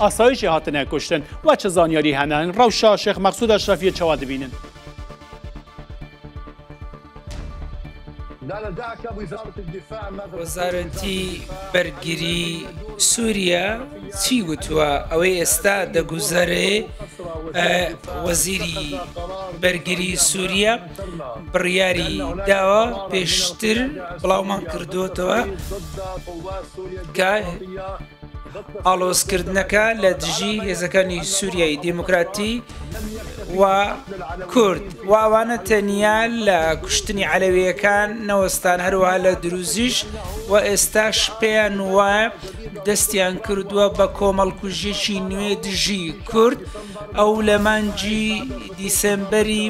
ئاسایشی هاتنە کوشتن وە چ زانیاری هەنن ڕەوشە شێخ مەقسود ئەشرەفیە چەوا دبینن. وەزارەتی بەرگری سوریا چی وتوە ئەوەی ئێستا دەگوزەرێ وەزیری بەرگری سوریا بڕیاری داوە پێشتر بڵاومان کردوتەوە کە ئاڵۆزکردنەکە لە دژی هێزەکانی سووریای دیموکراتی و کورد و ئەوانە تەنیا لە کوشتنی عەلەویەکان نەوەستان هەروەها لە دروزیش و ئێستاش پێیان وایە دەستیان کردووە بە کۆمەڵکوژیەکی نوێ دژی کورد ئەو لە مانجی دیسێمبەری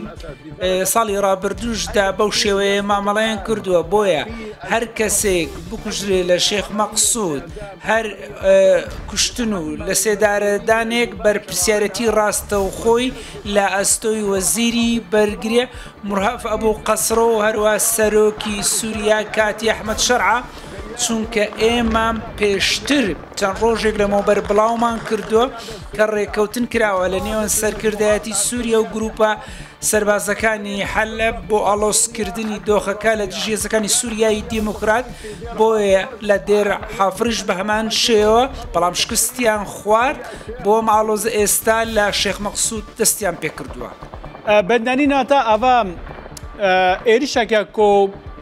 ساڵی ڕابردووشدا بەو شێوەیە مامەڵەیان کردووە بۆیە هەر کەسێک بکوژرێ لە شێخ مەقسود هەر کوشتن و لە سێدارەدانێک بەرپسیارەتی ڕاستە و خۆی لە ئەستۆی وەزیری بەرگرێ مرهف ئەبوو قەسڕۆ و هەروە سەرۆکی سووریا کاتی ئەحمد شەرع چونکە ئێمە پێشتر چەند ڕۆژێک لەمەوبەر بڵاومان کردووە کە ڕێککەوتن کراوە لە نێوان سەرکردایەتی سووریا و گرووپە سەربازەکانی حەلەب بۆ ئاڵۆزکردنی دۆخەکە لە دژی هێزەکانی سووریای دیموکرات، بۆیە لە دێر حافرش بە هەمان شێوە، بەڵام شکستیان خوارد، بۆ ئەم ئاڵۆزە ئێستا لە شێخ مەقسوود دەستیان پێ کردووە. بندنی ناتا ئەڤە ئێریشەکە کۆ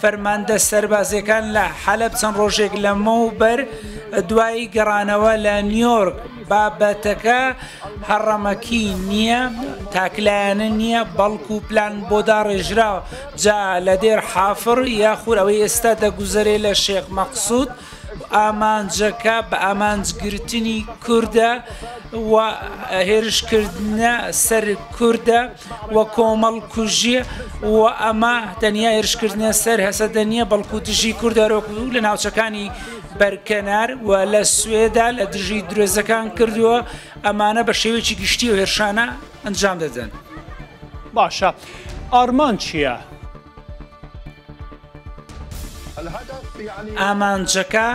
فەرماندە سەربازییەکان لە حەلەب چەند ڕۆژێک لەمەوبەر دوای گەڕانەوە لە نیۆرک بابەتەکە هەڕەمەکی نییە تاکلایەنە نییە بەڵکو پلان بۆ داڕێژراوە جا لە دێر حافڕ یاخور ئەوەی ئێستا دەگوزەرێ لە شێخ مەقسود ئامانجەکە بە ئامانج گرتنی کوردە و هێرشکردنە سەر کوردە و کۆمەڵ کوژیە و ئەمە تەنیا هێرشکردنە سەر هەسەدە نییە بەڵکو دژی کوردەرۆک و لە ناوچەکانی بەرکەنار و لە سوێدا لە دژی درێزەکان کردووە ئەمانە بە شێوێکی گشتی و هێرشانە ئەنجام دەدەن. باشە ئارمان چییە؟ ئامانجەکە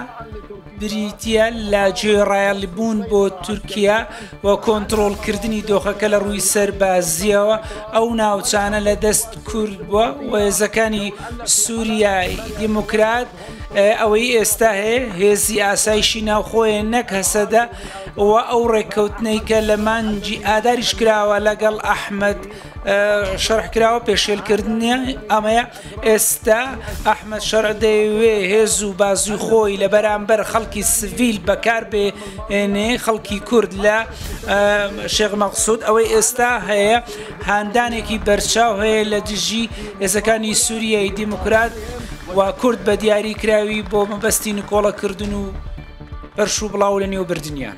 بریتییە لە گوێڕایەڵبوون بۆ تورکیا و کۆنتترۆلکردنی دۆخەکە لە ڕووی سەربازیەوە ئەو ناوچانە لە دەست کورد بووە وێزەکانی سووریایی دیموکرات ئەوەی ئێستا هەیە هێزی ئاسایشی ناوخۆیە نەک هەسەدە و ئەو ڕێککەوتنەی کە لە مانجی ئاداریش کراوە لەگەڵ ئەحمد شەرح کراوە پێشێل کردنی ئەمەیە ئێستا ئەحمد شەرع دەیەوێ هێز و بازوی خۆی لە بەرامبەر خەڵکی سڤیل بەکار بێنێ خەڵکی کورد لە شێغ مەقصود ئەوەی ئێستا هەیە هاندانێکی بەرچاو هەیە لە دژی ئێزەکانی سووریای دیموکرات و کورد بە دیاری کراوی بۆ مەبەستی نکۆڵەکردن و پەرش و بڵاو لە نێو بردنیان.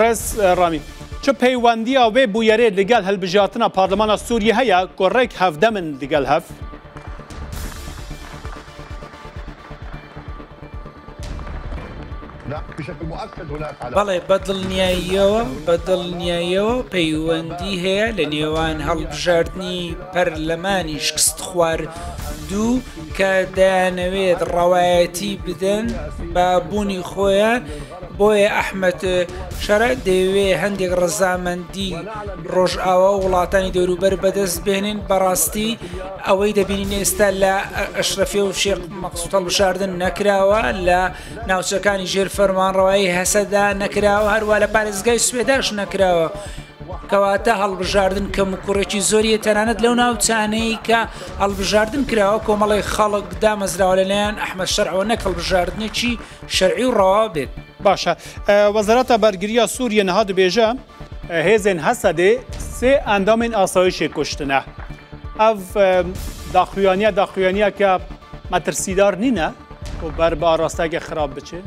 ڕێز ڕامی چ پەیوەندی ئەوێ بوویەرێ لەگەل هەلبژاتنا پارلمانە سووری هەیە گۆڕێک هەفدە من لەگەل هەف بەڵێ بەدڵنیاییەوە بەدڵنیایەوە پەیوەندی هەیە لە نێوان هەڵبژاردننی پەرلەمانی شکست خوار دوو کە دەیانەوێت ڕەوایەتی بدەن بە بوونی خۆیان بۆیە ئەحمد شەرع دەیەوێ هەندێک ڕزامەندی ڕۆژئاوا و وڵاتانی دەوروبەر بەدەست بێنین بەڕاستی ئەوەی دەبینین ئێستا لە ئەشرەفێ و شێق مەقسوتەڵ بشاردن نەکراوە لە ناوچەکانی ژێر فەرمانڕەوایی هەسەدا نەکراوە هەروە لە پارێزگای سوێداش نەکراوە کەواتە هەڵبژاردن کەموکوڕێکی زۆری هەیە تەنانەت لەو ناوچانەی کە هەڵبژاردن کراوە کۆمەڵی خەڵک دامەزراوە لەلایەن ئەحمە شەرعەوە نەک هەڵبژاردنێکی شەرعی و ڕەوا بێت باشە وەزارەتە بەرگریە سووریە نەها دەبێژە هێزێن هەسەدێ سێ ئەندامین ئاسایشێ کوشتنە ئەڤ داخویانە داخویانە کە مەترسیدار نینە و بەر بە ئاراستەگە خراپ بچێت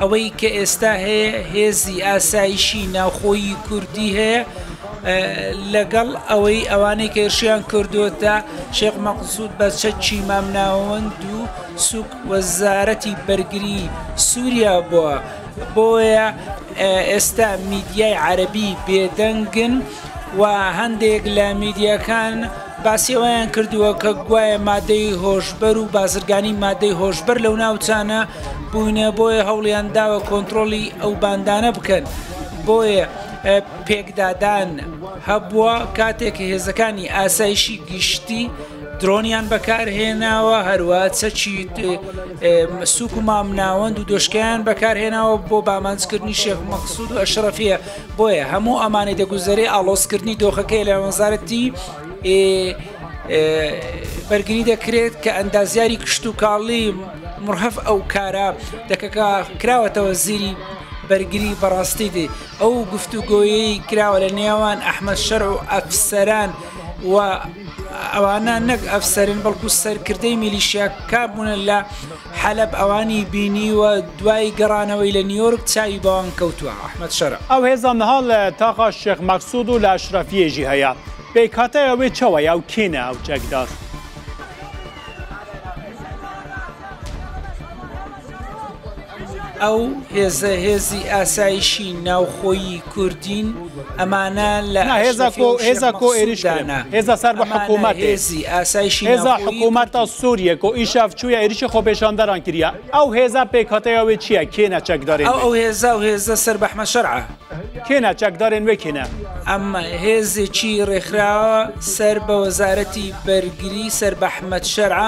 ئەوەی کە ئێستا هەیە هێزی ئاسایشی ناوخۆیی کوردی هەیە لەگەڵ ئەوەی ئەوانەی کێشیان کردوتە شێخ مەقسود بە چەکی مامناوەند و سوک وەزارەتی بەرگری سووریا بووە بۆیە ئێستا میدیای عەربی بێدەنگن و هەندێک لە میدیەکان باسی ئەوەیان کردووە کە گوایە مادەی هۆشبەر و بازرگانی مادەی هۆشبەر لەو ناوچانە بووینە بۆیە هەوڵیان داوە کۆنترۆڵی ئەو باندانە بکەن بۆیە پێکدادان هەبووە کاتێک هێزەکانی ئاسایشی گشتی درۆنیان بەکارهێناوە هەروە چەکی سوک و مامناوەند و دۆشکیان بەکارهێناوە بۆ بامانجکردنی شێخ مەقسود و ئەشرەفیە بۆیە هەموو ئەمانەی دەگوزەرێ ئاڵۆسکردنی دۆخەکەی لە وەزارەتی بەرگری دەکرێت کە ئەندازیاری کشت و کاڵی مرهف ئەو کارە دەکەکە کراوەتەوە زیری بەرگری بەڕاستی دێ ئەو گفتوگۆیی کراوە لە نێوان ئەحمە شەر و ئەفسەران و ئەوانە نەک ئەفسەرن بەڵکو سەرکردەی میلیشیا کابوونە لە حەلەب ئەوانی بینیوە دوای گەڕانەوەی لە نیۆرک چاوی بەوان کەوتوە ئەحمەد شەرع. ئەو هێزە نها لە تاقا شێخ مەقسود و لە ئەشرەفییە ژی هەیە. پێکهاتەی ئەوێ چەوەیە و کێنە ئەو چەک داس. ئەو هێزە هێزی ئاسایشی ناوخۆیی کوردین. ئەمانە لە هێزا کۆ هێزا کۆ ئێریش دانا هێزا سەر بە حکوومەت هێزی ئاسایشی هێزا حکوومەت تا سووریە کۆ ئیشاف چووە ئێریشی خۆ پێشاندەران کریا ئەو هێزا پێکاتەیەوێ چییە کێنە چەکدارێ ئەو هێزا و هێزە سەر بەحمە شەرعە کێنە چەکدارێن وێ کێنە ئەمە هێزێکی ڕێکخراوە سەر بە وەزارەتی بەرگری سەر بەحمەد شەرع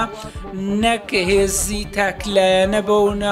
نەک هێزی تاکلایەنە بەونە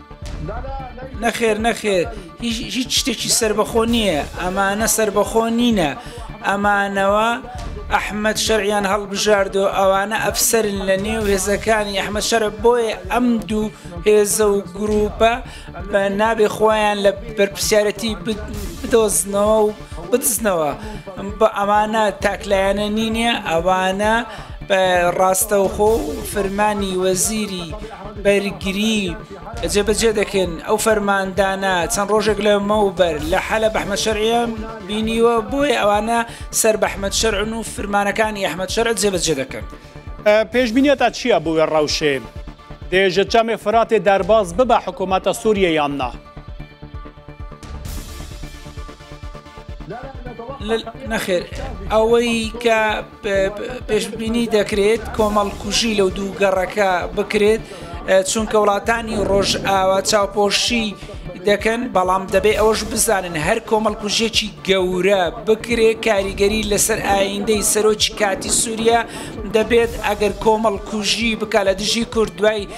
نەخێر نەخێر هیچ شتێکی سربەخۆ نییە ئەمانە سربەخۆ نینە ئەمانەوە ئەحمد شەریان هەڵبژاردۆ ئەوانە ئەفسرن لە نێو هێزەکانی ئەحمە شەرە بۆیە ئەم دوو هێزە و گروپە بە نابێ خۆیان لە بەرپسیارەتی بدۆزنەوە و بتسنەوە بە ئەمانە تاکلایەنە نینە ئەوانە ڕاستەوخۆ و فرمانی وەزیری بەرگری جێبەجێ دەکەن ئەو فەرماندانە چەند ڕۆژێک لە مەوبەر لە حەلە بەحمە شەرعیان بینیوە بۆیە ئەوانە سەر بەحمەد شەرعن و فرمانەکانی ئەحمد شەرع جێبەجێ دەکەن پێشبینە تا چییە بۆ وێ ڕەوشێ دێژە چامێ فراتێ دەرباز ببە حکوومەتە سووریە یاننا نەخێر ئەوەی کە پێشببینی دەکرێت کۆمەڵ کوژی لەو دوو گەڕەکە بکرێت چونکە وڵاتانی ڕۆژ ئاوا چاوپۆشی دەکەن بەڵام دەبێ ئەوەش بزانن هەر کۆمەڵ کوژێکی گەورە بکرێت کاریگەری لەسەر ئایندەی سەرۆکی کاتی سووریا دەبێت ئەگەر کۆمەڵ کوژی بکە لە دژی کورد دوای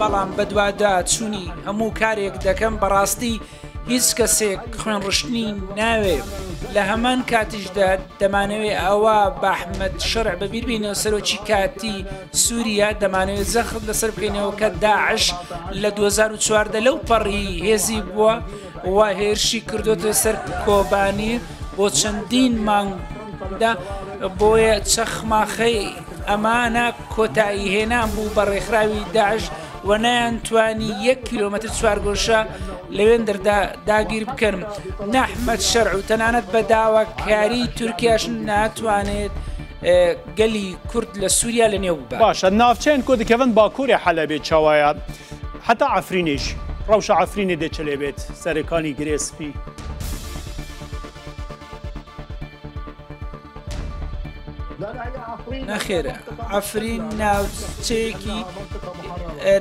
بەڵام بەدوادا چوونی هەموو کارێک دەکەم بەڕاستی هیچ کەسێک خوێن ڕشتنی ناوێ لە هەمان کاتیشدا دەمانەوێت ئەوە بەحمد شەر بەبییربینەوە سەرۆکی کاتی سووریا دەمانەوێت زەخت لەسەر بکەینەوە کە داعش لە 2014 لەو پەڕی هێزی بووە و هێرشی کردۆتە سەر کۆبانی بۆ چەندین مانگدا بۆیە چەخماخەی ئەمانە کۆتایی هێنان بوو بە ڕێکخراوی داعش و نەیان توانی یەک کیلومتر چوارگۆشە لەوێن دەردا داگیر بکەن نەحمەد شەرع و تەنانەت بە داواکاری تورکیاش ناتوانێت گەلی کورد لە سووریا لە نێو باشە ناوچەیان کۆ دکەون باکووری حەلەبێ چاوایە حەتا عەفرینیش ڕەوشە عەفرینێ دێ چلێ بێت سەرێکانی گرێ سپی. نەخێر ئەفرین ناوچەیەکی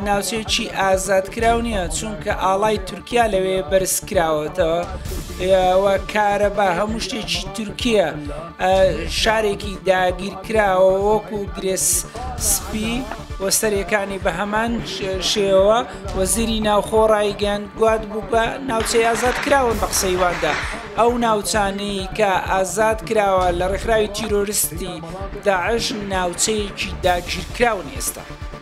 ناوچەیەکی ئازادکراو نییە چونکە ئاڵای تورکیا لەوێ بەرزکراوەتەوە کارەبا هەموو شتێکی تورکیە شارێکی داگیرکراوە وەکو گرێس سپی و سەرەکانی بە هەمان شێوە وەزیری ناوخۆ ڕایگەن گواد بوو بە ناوچەی ئازاد کراون بە قسەیواندا ئەو ناوچانەی کە ئازاد کراوە لە ڕێکخراوی تیرۆرستی داعش ناوچەیەکی داگیرکراون ئێستا.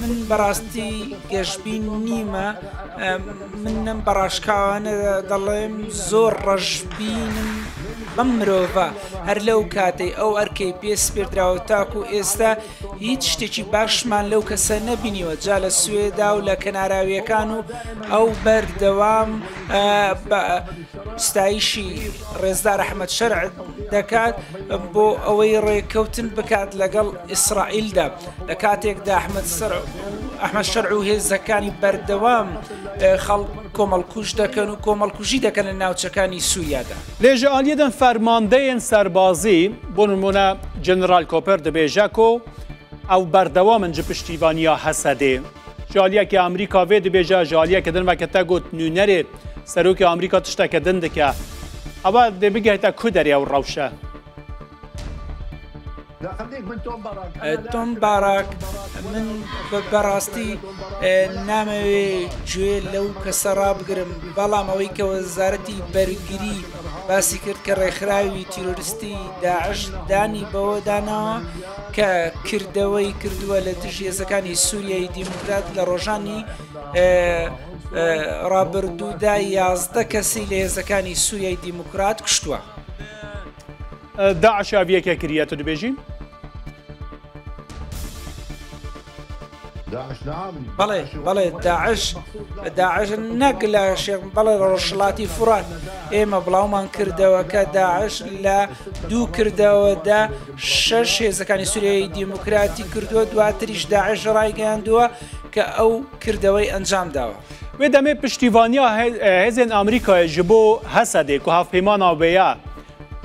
من بەڕاستی گەشبین نیمە من نەم بەڕاشکاوانە دەڵێم زۆر ڕەشبینم بەم مرۆڤە هەر لەو کاتەی ئەو ئەرکەی پێ سپێردراوە تاکو ئێستا هیچ شتێکی باشمان لەو کەسە نەبینیوە جا لە سوێدا و لە کەناراویەکان و ئەو بەردەوام ستایشی ڕێزدار ئەحمەد شەرع دەکات بۆ ئەوەی ڕێککەوتن بکات لەگەڵ ئیسرائیلدا لە کاتێکدا ئەحمد سەر ئەحمد شەرع و هێزەکانی بەردەوام خەڵ کۆمەڵکوش دەکەن و کۆمەڵکوژی دەکەن لە ناوچەکانی سووریادا لێژە ئالیەدەن فەرماندەیەن سەربازی بۆ نمونە جەنرال کۆپەر دەبێژەکۆ ئەو بەردەوامن جە پشتیوانیا هەسەدێ جالیە کە ئەمریکا وێ دبێژە جالیە کە دنمە کە تە گوت نوێنەرێ سەرۆکی ئەمریکا تشتە کە دن دکە ئەوە دێ بگەێتە کو دەرێ و ڕەوشە. تۆم باراک من بەڕاستی نامەوێ گوێ لەو کەسە ڕابگرم بەڵام ئەوەی کە وەزارەتی بەرگری باسی کرد کە ڕێکخراوی تیرۆریستی داعش دانی بەوەدانەوە کە کردەوەی کردووە لە دژ هێزەکانی سووریای دیموکرات لە ڕۆژانی ڕابردوودا یازدە کەسی لە هێزەکانی سووریای دیموکرات کوشتووە داعشاویەکە کریە تو دبێژین بەڵێ بەڵێ داعش داعش نەک لە شێخ بەڵێ ڕۆژڵاتی فرات ئێمە بڵاومان کردەوە کە داعش لە دوو کردەوەدا شەش هێزەکانی سوریایی دیموکراتی کردووە دواتریش داعش ڕایگەیاندووە کە ئەو کردەوەی ئەنجام داوە. وێ دەمێ پشتیوانیا هێزێن ئەمریکای ji بۆ هەسەدێک و هەفپەیمانە وێە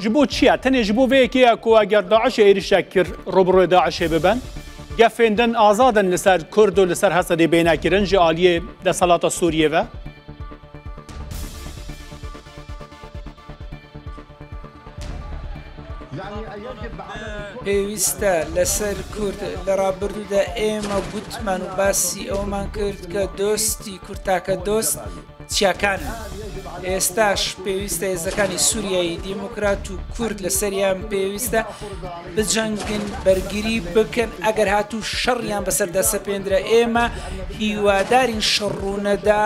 ji بۆ چییە تەنێ ji بۆ vێکەیە کوواگەر داعشە عێریشە کرد ڕۆبڕۆێ داعشێ ببن. گەفێندن ئازادن لەسەر کورد و لەسەر هەسەدەی بێناکردن ژە ئالیێ دەسەڵاتە سووریێڤە. پێویستە لەسەر کورد لە ڕابردوودا ئێمە گوتمان و باسی ئەوەمان کرد کە دۆستی کورد تاکە دۆست چیاکان، ئێستاش پێویستە هێزەکانی سووریایی دیموکرات و کورد لە سەریان پێویستە بجەنگن بەرگری بکەن ئەگەر هاتوو شەڕیان بەسەردا سەپێندرا ئێمە هیوادارین شەڕوونەدا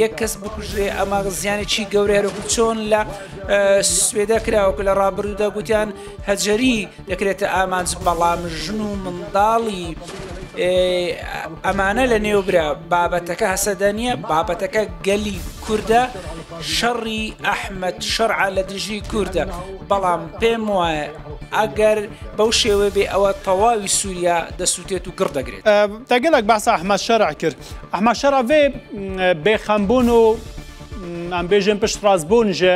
یەک کەس بکوژێ ئەمە زیانێکی گەورەێرەکو چۆن لە سوێدە کراوەکە لە ڕابردوودا گوتیان هەجەری دەکرێتە ئامانج بەڵام ژن و منداڵی ئەمانە لە نێوبرا بابەتەکە هەسەدە نییە بابەتەکە گەلی کووردە شەڕی ئەحمد شەرع لە دژی کووردە بەڵام پێم وایە ئەگەر بەو شێوە بێ ئەوە تەواوی سووریا دەسووتێت و گڕ دەگرێت تەگەلک باس ئەحمە شەرع کرد ئەحمە شەرعێ بێخەمبوون و ئەم بێژێن پشت ڕاستبوون ژێ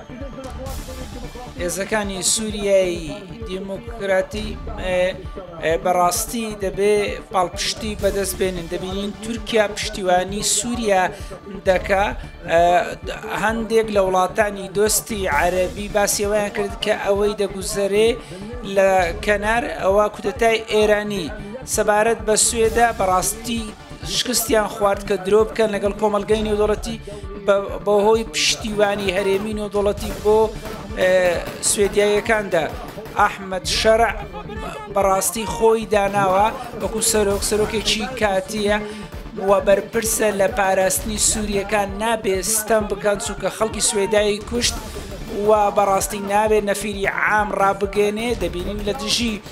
هێزەکانی سووریای دیموکراتی بەڕاستی دەبێ پاڵپشتی بەدەست بێنن دەبینین تورکیا پشتیوانی سووریا دەکا هەندێک لە وڵاتانی دۆستی عەربی باسیەوەیان کرد کە ئەوەی دەگوزەرێ لە کەنار ئەوە کودەتای ئێرانی سەبارەت بە سوێدا بەڕاستی شکستیان خوارد کە درۆ بکەن لەگەڵ کۆمەلگەی نێودوڵەتی بەهۆی پشتیوانی هەرێمی نێودوڵەتی بۆ سوێدیایەکاندا ئەحمد شەرع بەڕاستی خۆی داناوە وەکو سەرۆک سەرۆکێکی کاتیە و بەرپرسە لە پاراستنی سووریەکان نابێ ستەم بکەن چونکە خەڵکی سوێدایی کوشت و بەڕاستی ناوێت نەفیری عام ڕابگەێنێ دەبینین لە دژی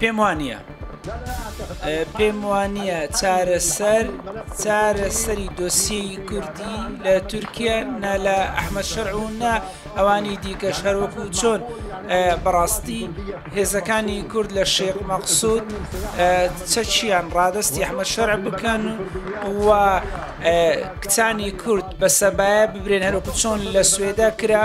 پێم وا نییە پێم وا نییە چارەسەر چارەسەری دۆسیی کوردی لە تورکیا نا لە ئەحمە شەر و نا ئەوانی دیکە شەروەکو چۆن بەڕاستی هێزەکانی کورد لە شێخ مەقصود چەچیان ڕادستی ئەحمە شەر بکەن و کچانی کورد بە سەبایە ببرێن هەروکو چۆن لە سوێدا کرا